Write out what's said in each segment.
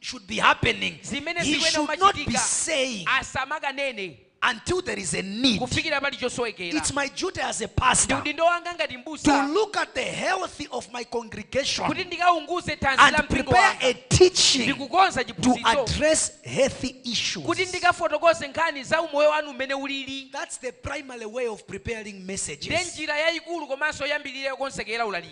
should be happening, zimene he zikuyenera should not be kumachitika saying asamakanena until there is a need. kufikira pali chosowekera It's my duty as a ndi pastor udindo wanga ngati to mbusa look at the health of my congregation kuti ndikaunguze thanzi la and mpingo prepare wanga a teaching ndikukonza to chiphunzitso address healthy kuti issues. ndikafotokoze nkhani za umoyo wanu mmene ulili That's the primary way of preparing ndi messages. njira yayikulu komanso yambirira yokonzekera ulaliki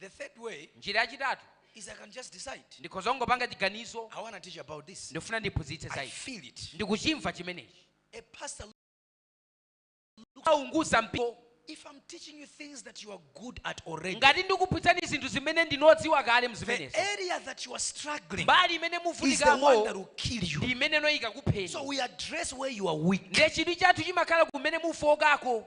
The third way Njira yachitatu is I can just decide. ndikhoza kungopanga chiganizo I want to teach about this. ndikufuna ndiphunzitse za I ichi feel it. ndikuchimva chimenechi A pastor, aunguza mpingo if I'm teaching you things that you are good at already, ngati ndikuphunzitsani zinthu zimene ndinu odziwa kale the mzimenezo area that you are struggling mbali imene is the one that muvutikako will kill ndi you. imene ndi yoyika So kukupheni we address where you are weak. ndiye chidwi chathu chimakhala kumene mukufookako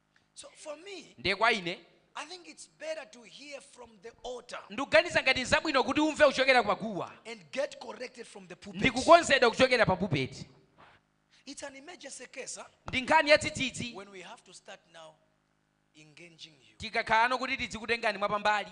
ndiye kwa ine ndikuganiza ngati nzabwino kuti umve kuchokera pa guwa ndikukonzedwa kuchokera pa pulpit ndi nkhani ya dzidzidzi tikakhalano kuti tidzikutengani mwapambali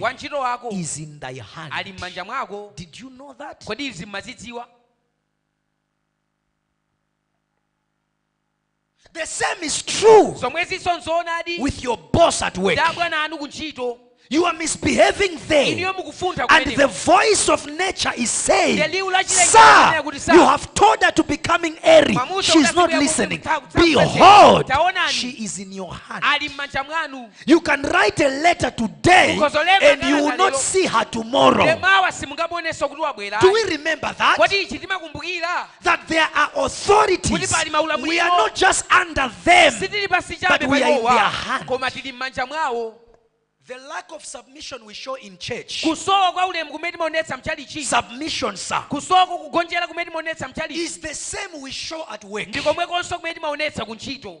Wantchito wako ali m'manja mwako. Kodi izi m'mazidziwa? The same is true zomwezinso nzoonadi with your boss at work. Dabwana anu kuntchito you are misbehaving there. And the voice of nature is saying, Sir, you have told her to be coming airy. She's not listening. Behold, she is in your hand. You can write a letter today and you will not see her tomorrow. Do we remember that? That there are authorities. We are not just under them, but we are in their hand. The lack of submission we show in church. Kusowa kwa ulemu kumene timaonetsa mchalichi. Submission sir. Kusowa kugonjera kumene timaonetsa mchalichi. Is the same we show at work. Ndikomwekonso kumene timaonetsa kuntchito.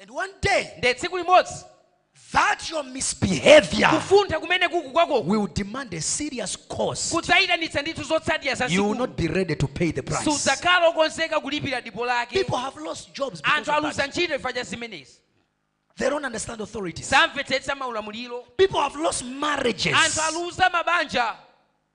And one day, nde tsiku limodzi that your misbehavior kufuntha kumene uku kwakoko will demand a serious cost kudzayitanitsa ndithu zotsatira za you will not be ready to pay the price sudzakhala okonzeka kulipira dipo lake people have lost jobs because anthu of aluza that. ntchito chifukwa cha zimenezi they don't understand authorities samvetsetsa maulamuliro people have lost anthu marriages aluza mabanja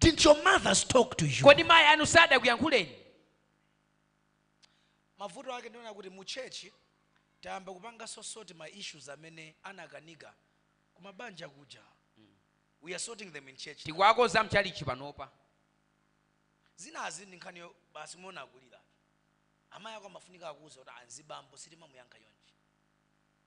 Didn't your mothers talk to you? kodi mayi anu sadakuyankhuleni mavuto ake ndiona kuti mu church tayamba kupanga so sort ma issues amene anakanika kumabanja kuja we are sorting them in church tikuwakonza mchalichi panopa zina izi ndi nkhani yo- basi muona akulira amayi ako amafunika akuuze kuti mzibambo sitimamuyankha chonchi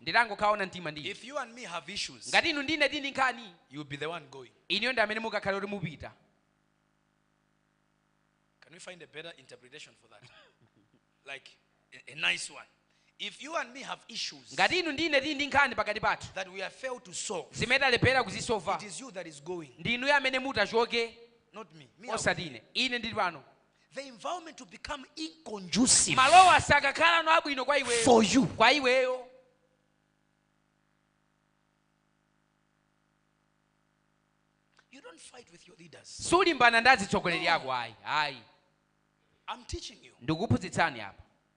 nditangokhala woona mtima ngati inu ndi ine tili ndi nkhani inuyo ndi amene mukakhale kuti mupita Can we find a better interpretation for that? like a, a nice one. If you and me have issues ngati inu ndi ine tili ndi nkhani pakati pathu that we have failed to solve, zimene talephera it kuzisova is you that is going, ndi inuyo amene mutachoke not me. me I'll- osati ine ine ndili pano The environment will become inconducive malowa sakakhalano abwino kwa iweyo for you. kwa iweyo You don't fight with your leaders. sulimbana ndi azitsogoleri ako ayi ayi I'm teaching you. ndikuphunzitsani apa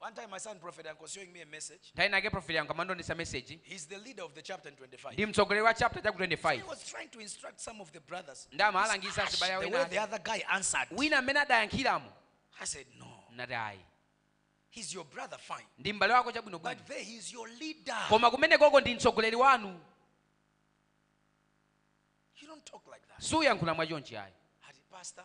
One time my son prophet Yankho was showing me a message. Nthawi inayake prophet Yankho amandionetsa message. He's the leader of the chapter in 25. Ndi mtsogoleri wa chapter chaku 25. He was trying to instruct some of the brothers. Nde amawalangiza azibale ena. The way the other guy answered. Wina mmene adayankhiramo. I said no. Ndinati ayi. He's your brother fine. Ndi mbale wako chabwino bwino. But there he's your leader. Koma kumenekoko ndi mtsogoleri wanu. You don't talk like that. Suyankhula mwachonchi ayi. Ati pastor.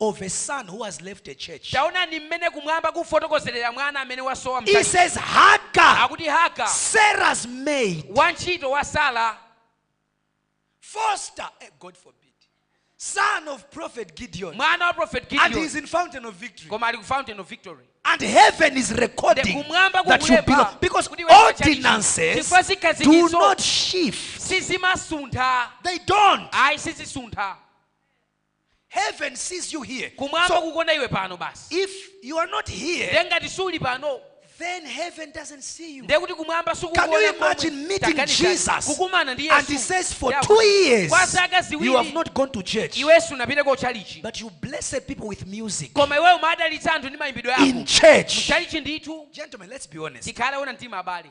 of a son who has left a church. taonani mmene kumwamba kufotokozerera mwana amene wasowa It mkati says Hagar, akuti haga Sarah's maid, wantchito wa sara foster, eh, God forbid, son of prophet Gideon, mwana wa prophet and gideon he's in fountain of victory. koma ali ku fountain of victory And heaven is recording Nde kumwamba that you kukulemba belong because kuti ndiwe wa chalichi. ordinances Chifukwa zikhazikitso. do not shift. sizimasuntha They don't. ayi sizisuntha Heaven sees you here. Kumwamba So kukuona iwe pano basi. if you are not here, Ndiye ngati suli pano, then heaven doesn't see you. ndiye kuti kumwamba Can you sikukuona komwe. imagine meeting Taganizani, Jesus kukumana ndi and he Yesu. says for Ndiye two akuti, years Kwa zaka you have ziwiri not gone to church, iwe sunapite ku chalichi. but you blessed people with music Koma iwe umadalitsa anthu ndi mayimbidwe in ako. church. Chalichi ndithu Gentlemen, let's be honest. tikhale oona mtima abale.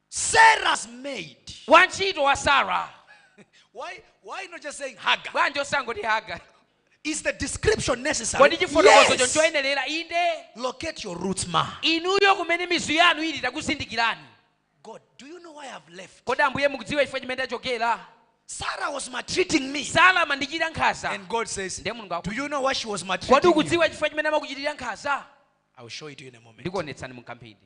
Sarah's maid. wantchito wa sara Why, why not just saying Hagar? bwanji osangoti haga Is the description necessary? kodi chifotokozocho Yes. nchoyenerera inde Locate your roots, ma. inuyo kumene mizu yanu ili takuzindikirani God, do you know why I've left? kodi ambuye mukudziwa chifukwa chimene ndachokera Sarah was maltreating me. sara amandichitira nkhaza And God says, Ndiye Mulungu aku- Do you know why she was kodi maltreating you? ukudziwa chifukwa chimene amakuchitira nkhaza I'll show it to you in a moment. ndikuonetsani mkamphindi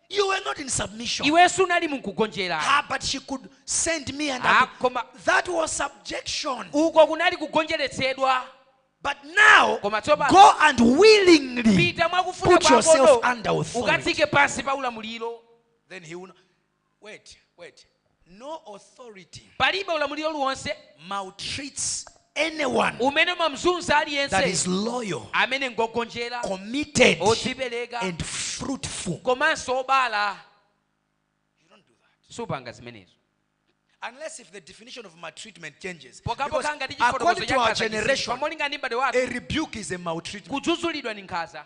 You were not in submission. iwe sunali mu kugonjera Ah, but she could send me and Ah, I could- koma that was subjection. uko kunali kugonjeretsedwa But now Koma tsopano- go and willingly pita mwakufuna put yourself kwakoko under authority. ukadziike pansi pa ulamuliro Then he will not. Wait, wait. no authority, palibe ulamuliro uliwonse maltreats anyone umene umamzunza that aliyense is loyal, amene ngogonjera committed, odzipereka and fruitful. komanso obala You don't do that. supanga zimenezo Unless if the definition of maltreatment changes. Because pokhapokha ngati chifotokozo according to our cha nkhaza chisintha generation, molingana ndi mbadwo a wathu rebuke is a maltreatment. kudzudzulidwa ndi nkhaza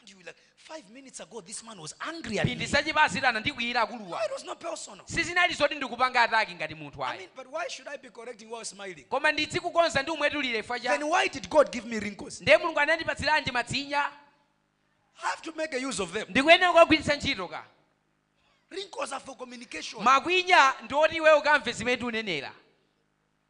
And you were like, five minutes ago, this man was angry at me. mphindi zapitazi anandikwiyira No, akuluwa it was not personal. sizinali zoti ndikupanga ataki ngati munthu I ayi mean, but why should I be correcting while smiling? koma ndidzikukonza ndikumwetulira chifukwa chani Then why did God give me wrinkles? ndiye mulungu anandipatsiranji matsinya I have to make a use of them. ndikuyenera kuwagwiritsa ntchito ka Wrinkles are for communication. makwinya ndi oti iwe ukamve zimene tikunenera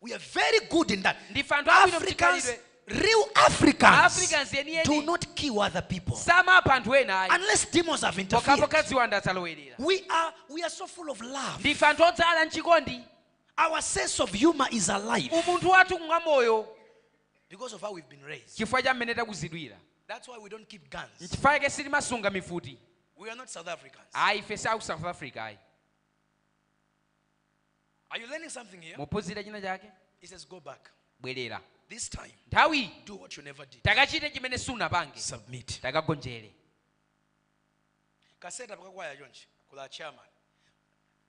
We are very good in that. Ndife anthu abwino Africans, mchikhalidwe. real Africans Africans yeniyeni. do not kill other people samapha anthu ayi unless demons have pokhapokha interfered. ziwanda zalowerera We are, we are so full of love. ndife anthu odzala mchikondi Our sense of humor is alive umunthu wathu ngwa moyo because of how we've been raised. chifukwa cha mmene takuzidwira That's why we don't keep guns. nchifukwa yake sitimasunga mifuti We are not South Africans. ayi ife si a ku south africa ayi Are you learning something here? mukuphunzira china chake He says, Go back. bwerera This time, nthawi do what you never did. takachite chimene sunapange Submit. takagonjere Kaseta pakakwaya chonchi kula chairman.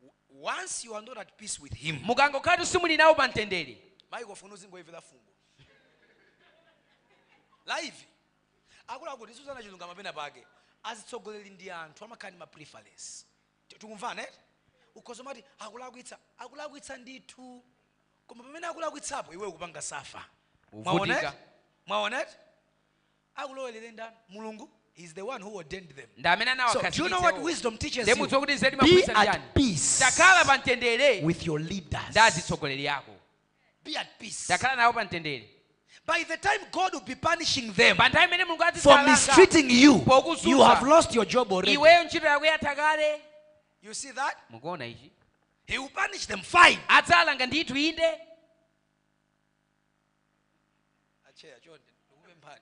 W- Once you are not at peace with him, mukangokhala simuli nawo pa mtendere mayi kofuna uzingoyevera fungo. Leave. Akulu akuti suzana chilungamo pena pake. Azitsogoleri ndi anthu amakhala ndi ma preference. Ti- tikumvana eti ukhoza umati akulakwitsa akulakwitsa ndithu koma pamene akulakwitsapo iwe ukupanga safa Uvutika. Mwaona eti? mwaona eti akulowerere ndani mulungu He's the one who ordained them ndi amene So, do you know what wisdom teaches you? mudziwa kuti nzeru Be imaphunzitsa at chiyani peace takhala pa mtendere with your leaders ndi azitsogoleri ako be at peace. Takhala nawo pa mtendere. By the time God will be punishing them pa nthawi imene Mulungu for azidzawalanga mistreating you, you pokuzunza have lost your job already. iweyo ntchito yako yatha kale. You see that? Mukuona ichi? He will punish them fine. Adzalanga ndithu inde. Acheya chonde ndikupemphani.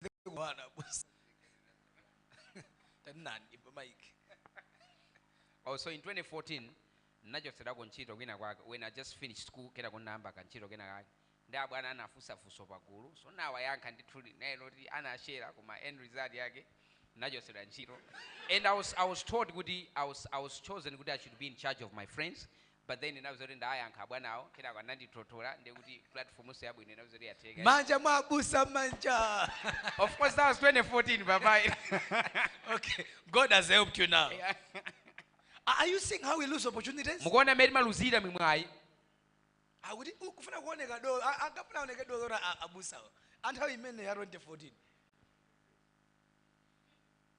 Ndi kuwana busa. Tanani pa mic. Oh, so in 2014 ndachotsedwako ntchito kwina kwake when i just finished school kena ndinayamba kantchito kena kake ndi abwana anafunsa funso pagulu so nawayankha ndithudi naye loti anashera koma end result yake nachotsedwa ntchito and I was, i was told kuti I was, i was chosen kuti i should be in charge of my friends But then ndinauzidwa kuti ndawayankha abwanawo kenako anandithothola ndiye kuti platform so yabwino inauza kuti yatheka. Manja mwa abusa manja. Of course that was 2014 papa. Okay God has helped you now. Yeah. Are you seeing how we lose opportunities? Mukuona mmene timaluzira mimwayi? Akuti ukufuna kuoneka dolo akapuna oneke dolo ra abusawo. Anthawi imene ya 2014.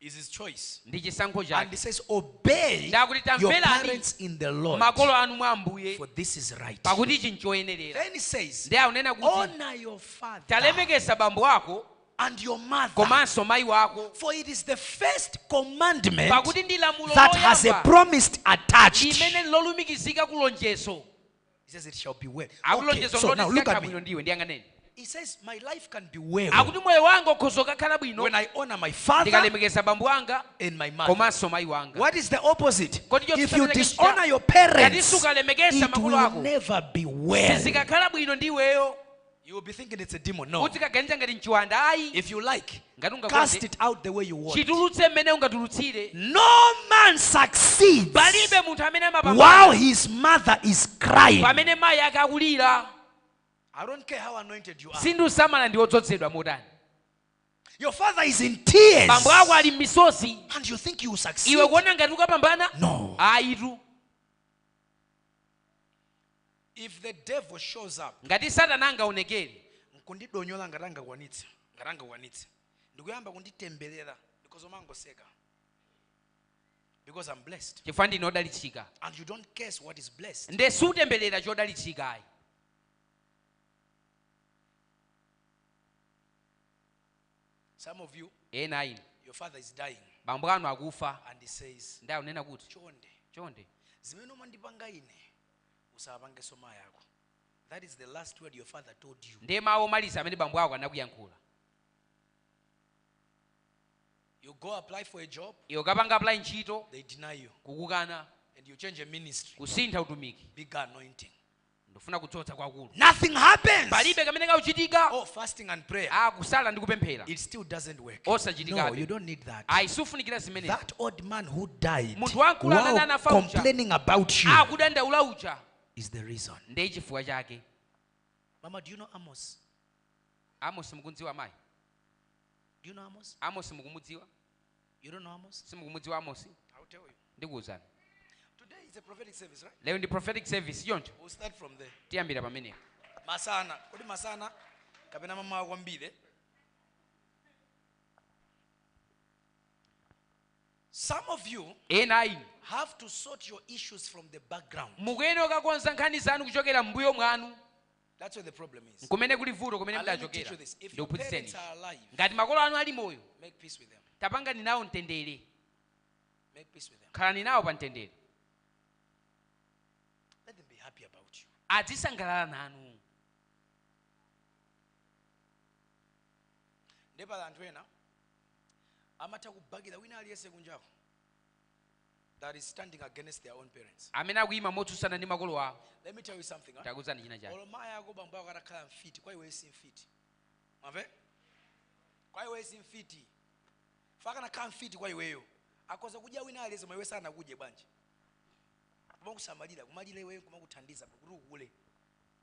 is his choice. ndi chisankho And he chake says, Obey akuti your tamverani parents in the Lord, makolo anu mwa ambuye for this is right. pakuti ichi nchoyenerera Then he says, ndiye akunena kuti Honor your father talemekeza bambo wako and your mother, komanso mayi wako for it is the first commandment pakuti ndi lamulo that has a loyamba promise attached. limene lalumikizika ku lonjezo He says it shall be well. akuti Okay, lonjezo so loti zonse now look at zikakhala me. bwino ndi iwe ndiyang'aneni He says my life can be well akuti moyo wanga ukhoza kukhala bwino when I honor my father ndikalemekeza bambo anga and my mother. komanso mayi wanga What is the opposite? Kodi chotsutsana If you chake dishonor chija- your Ngati parents, sukalemekeza it makolo will ako never be well. sizikakhala bwino ndi iweyo You will be thinking it's a demon. No. Uzikaganiza ngati n'chiwanda. Ayi. If you like, ngati ungakonde, cast it out the way you want. Chitulutse mmene ungatulutsire. No man succeeds. Palibe munthu amene amapambana. While his mother is crying. Pamene mayi ake akulira. I don't care how anointed you are. Sindikusamala ndi odzozedwa motani. Your father is in tears. Bambo ako ali m'misozi. And you think you will succeed. Iwe kuona ngati ukapambana? No. Ayitu. If the devil shows up. ngati satana angaonekere nkundidonyola ngati angakwanitse ngati angakwanitse ndikuyamba kunditembelera because ndimangoseka because i'm blessed chifukwa ndine odalitsika and you don't curse what is blessed nde siutembelera chodalitsika ayi some of you ena inu your father is dying bambo anu akufa and he says ndi akunena kuti chonde chonde zimene umandipanga ine usawapangenso mayi ako that is the last word your father told you ndiye mawu omaliza amene bambo ako anakuyankhula you go apply for a job iwe kapanga apply ntchito they deny you kukukana and you change a ministry kusintha utumiki bigger anointing ndifuna kudzoza kwakukulu nothing happens palibe kamene kakuchitika oh fasting and prayer ah kusala ndi kupemphera it still doesn't work osachitikabe no, ayi sufunikira zimenezo munthu wamkulu amene anafa uja akudandaula uja ndiye chifukwa chake Mama, do you know Amos? Amos mukumudziwa amayi? Do you know Amos? Amos mukumudziwa? You don't know Amos? Simukumudziwa Amos? I'll tell you. Ndikuuzani. Today is a prophetic service, right? Lero ndi prophetic service, choncho. We'll start from there. Tiyambira pamenepo. Masana. Kodi masana kapena mamawa kwambiri? Some of you ena a inu have to sort your issues from the background. mukuyenera kukakonza nkhani zanu kuchokera m'mbuyo mwanu That's where the problem is. nkumene kuli vuto kumene And let me teach mudachokera you this. If your ndikuphunzitseni parents are alive, ngati makolo anu ali moyo make peace with them. tapangani nawo mtendere Make peace with them. khalani nawo pa mtendere Let them be happy about you. azisangalala nanu nde pali anthu ena amatha kubakila wina aliyense kunjako that is standing against their own parents amene akuyima motsutsana ndi makolo awo let me tell you something huh? ntakuuzani china chake olo mayi ako bambo ako atakhala mfiti kwa iwe si mfiti mwamve kwa iwe si mfiti chifukwa akanakhala mfiti kwa iweyo akoza kudya wina aliyense ma iwe sanakudye bwanji kumakusamalira kumalira iweyo kumakuthandiza kuti ukule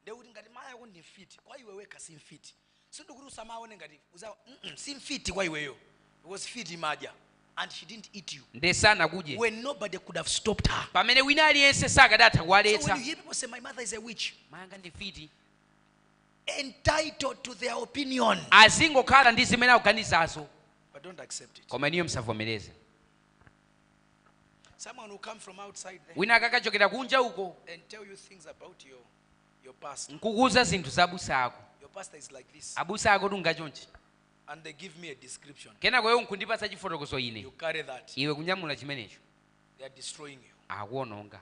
ndiye kuti ngati mayi ako ndi mfiti kwa iwe wekha si mfiti sindikuti usamaone ngati uza mm si mfiti kwa iweyo because mfiti imadya and she didn't eat you nde sanakudye when nobody could have stopped her pamene wina aliyense sakadatha so when you hear people say my mother is a witch mayi anga ndi mfiti entitled to their opinion azingokhala ndi zimene akuganizazo but don't accept it koma inuyo msavomereze wina akakachokera kunja uko nkukuuza zinthu za abusa ako abusa ako tunga chonchi kenako iwo nkundipatsa chifotokozo ine iwe kunyamula chimenecho akuononga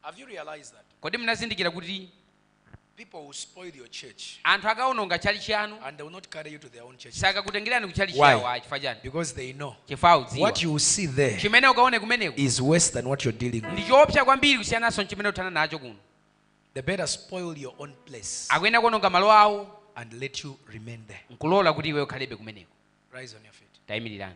Have you realized that? kodi munazindikira kuti People will spoil your church anthu akawononga tchalitchi yanu and they will not carry you to their own church sakakutengerani ku tchalitchi Why? yawo ayi chifukwa chani because they know chifukwa what akudziwa you will see there chimene ukaone kumeneko is worse than what you're dealing with. ndi choopsa kwambiri kusiyananso ndi chimene uthana nacho kuno They better spoil your own place akuyenera kuononga malo awo and let you remain there. nkulola kuti iwe ukhalebe kumeneko Rise on your feet. tayimirirani